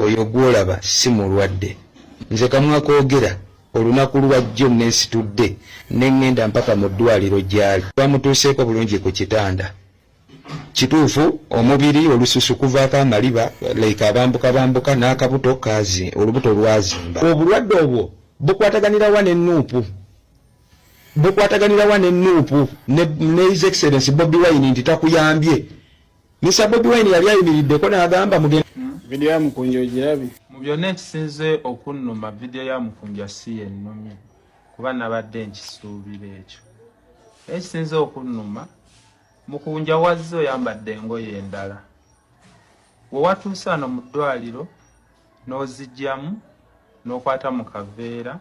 oyo gwolaba si mulwadde nze kamwakoogera olunaku lwajjo nensitudde nengenda mpaka mu ddwaliro gyali bamutuuseeko bulungi ku kitanda kituufu omubiri olususu kuvaako amaliba like abambuka bambuka n'akabuto kazi olubuto lwazimba obulwadde obwo bukwataganirawa ne nuupu bukwataganirawa ne nuupu ne his excellence bobi wine nti takuyambye misa bobi wine yali ayimiriddeko n'agamba mugenda vidiyo ya mukunja ogirabi mu byonna ekisinze okunnuma vidiyo ya mukunja si yennumye kuba nabadde nkisuubira ekyo ekisinze okunnuma Mukunja wazze oyambadde engoye endala, we watuuse ano mu ddwaliro n'ozigyamu n'okwata mu kaveera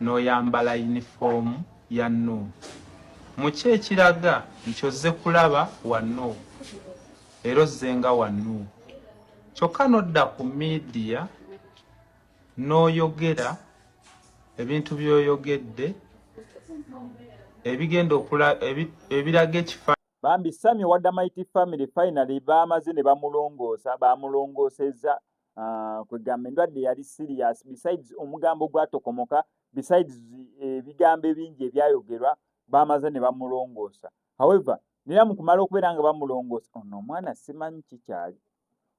n'oyambala yunifoomu ya Nuupu. Mu ki ekiraga nti ozze kulaba wa Nuupu era ozze nga wa Nuupu kyokka n'odda ku miidiya? n'oyogera ebintu by'oyogedde ebigenda okula ebiraga ekifa bambi sami owa damaiti family finally baamaze ne bamulongoosa baamulongoosezza ah, kwegamba endwadde yali serious besides omugambo gwatokomoka besides eh, ebigambo ebingi ebyayogerwa baamaze ne bamulongoosa however nera mu kumala okubeera nga bamulongoosa ono omwana simanyi kikyali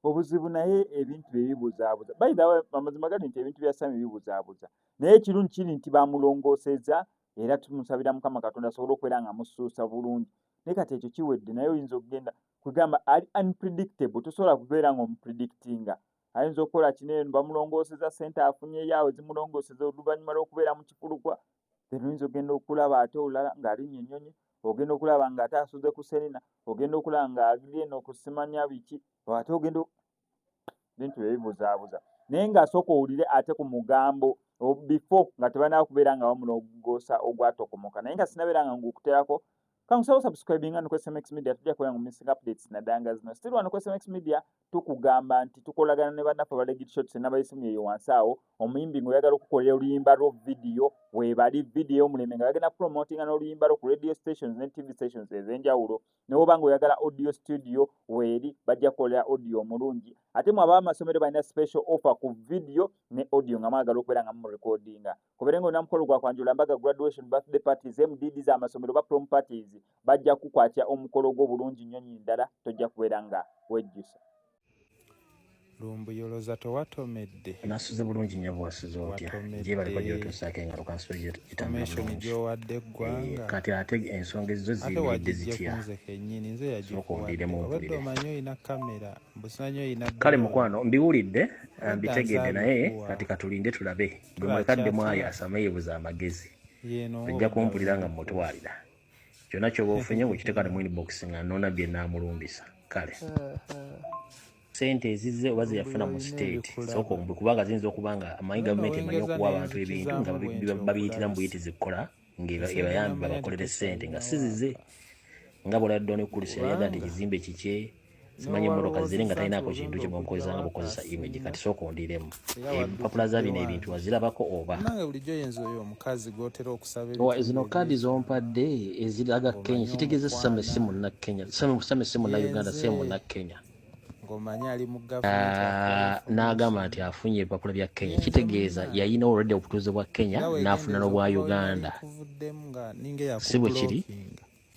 obuzibu naye ebintu byebibuzabuza bayidhawe amazima gali nti ebintu bya sami bibuzabuza naye ekirungi kiri nti bamulongoseza era tumusabira mukama katonda asobole okubeera nga musuusa bulungi naye kati ekyo kiwedde naye oyinza okugenda kwegamba ali unpredictable tosobola kubeera nga omupredictinga ayinza okukola kino eno bamulongoseza sente afunyeyawe zimulongoseza oluvannyuma lwokubeera mu kifulukwa then oyinza okugenda okulaba ate olulala ng'alinya enyonyi ogenda okulaba nga ate asuze ku serina ogenda okulaba nga agenda okusimanya biki ate ogenda bintu byebibuzaabuza naye ngaasooka owulire ate ku mugambo bifo nga tebanaa kubeera nga bamulogoosa ogwatokomoka naye nga sinabeera nga ngukuterako kangusawo subscribinga nukwesmx media tujja kubeera ngu missing updates nadanga zino still wano kwesmx media tukugamba nti tukolagana ne bannaffe abalegit shots nabayisimu eyo wansi awo omuyimbi nga oyagala okukolera oluyimba lwo vidiyo webali vidiyo yomulembe nga bagenda promotinga n'oluyimba lwo ku radio stations ne tv stations ez'enjawulo newoba nga oyagala audio studio weeri bajja kukolera audio omulungi ate mwe abaamasomero balina special offer ku vidiyo ne audio nga mwagala okubeera nga mumurekodinga kubeere nga olina mukolo gwa kwanjula mbaga graduation birthday parties mdd z'amasomero ba prom parties bajja kukwatya omukolo gwo bulungi nnyo nyi ndala tojja kubeera nga wejjusa lumbuyoloza towatomedde nasuze bulungi nnyo bwasuze otya gyebaleko gyotuusaako engalo kansulo gyowadde eggwanga eh, kati ate ensonga ezizo ziyimiridde zitya okundiremu obadde omanyi olina kamera mbusimanyi olina kale mukwano mbiwulidde mbitegedde naye kati katulinde tulabe gwematadde mwayo asama yebuza amagezi ojja kumpulira nga mutwalira kyona kyoba ofunye wekiteka ne mwinbox nga nona byenamulumbisa kale sente ezizze oba zeyafuna mu state sooka omubwe kubanga ziyinza okuba nga amanyi gavumenti emanyi okuwa abantu ebintu nga babiyitira mu buyitizi kukola ng'ebayambi babakolere ssente nga sizize nga bwoladdwa ne kulisi yali yagala nti ekizimbe kikye simanyi emmotoka ziri nga talinaako kintu kye bwenkozesa nga bukozesa image kati sooka ondiremu empapula za bino ebintu wazirabako oba zino kaadi zompadde eziraga kenya kitegeeza same si munakenya same si munnauganda si munakenya Ah, n'agamba nti afunye ebipapula bya kenya kitegeeza yayina olwedde obutuuze bwa kenya n'afuna n'obwa uganda si bwe kiri